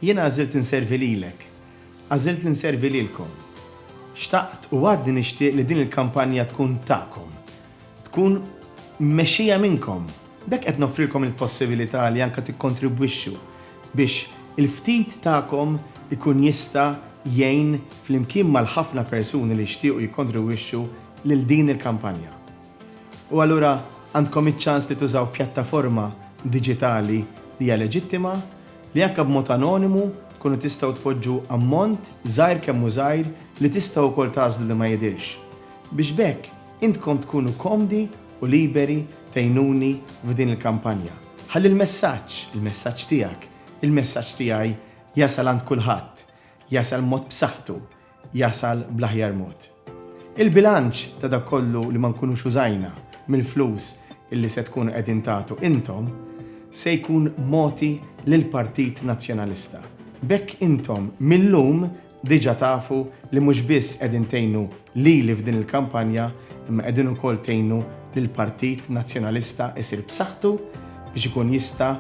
Jiena għażilt inservi lilek. Għażilt inservi lilkom. Xtaqt u għadni nixtieq li din il-kampanja tkun tagħkom. Tkun mmexxija minnkom. B'hekk qed noffrilkom il-possibilità li anke tikkontribwixxu biex il-ftit tagħkom ikun jista' jgħin flimkien mal-ħafna persuni li jixtiequ jikkontribwixxu lil din il-kampanja. U allura għandkom iċ-ċans li tużaw pjattaforma diġitali li hija leġittima, li anke b'mod anonimu tkunu tistgħu tpoġġu ammont, żgħir kemm hu żgħir, li tistgħu wkoll tagħżlu li ma jidhirx. Biex b'hekk intkom tkunu komdi u liberi tgħinuni f'din il-kampanja. Ħalli l-messaġġ, il-messaġġ tiegħek, il-messaġġ tiegħi jasal għand kulħadd, jasal b'mod b'saħħtu, jasal bl-aħjar mod. Il-bilanċ ta' dak kollu li ma nkunux użajna mill-flus li se tkunu qegħdin tagħtu intom se jkun mogħti lill-Partit Nazzjonalista. B'hekk intom mil-lum diġa tafu li mhux biss qegħdin tgħinu lili f'din il-kampanja imma qegħdin ukoll tgħinu lill-Partit Nazzjonalista jsir b'saħħtu biex ikun jista'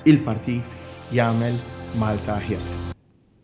il-Partit jagħmel Malta aħjar.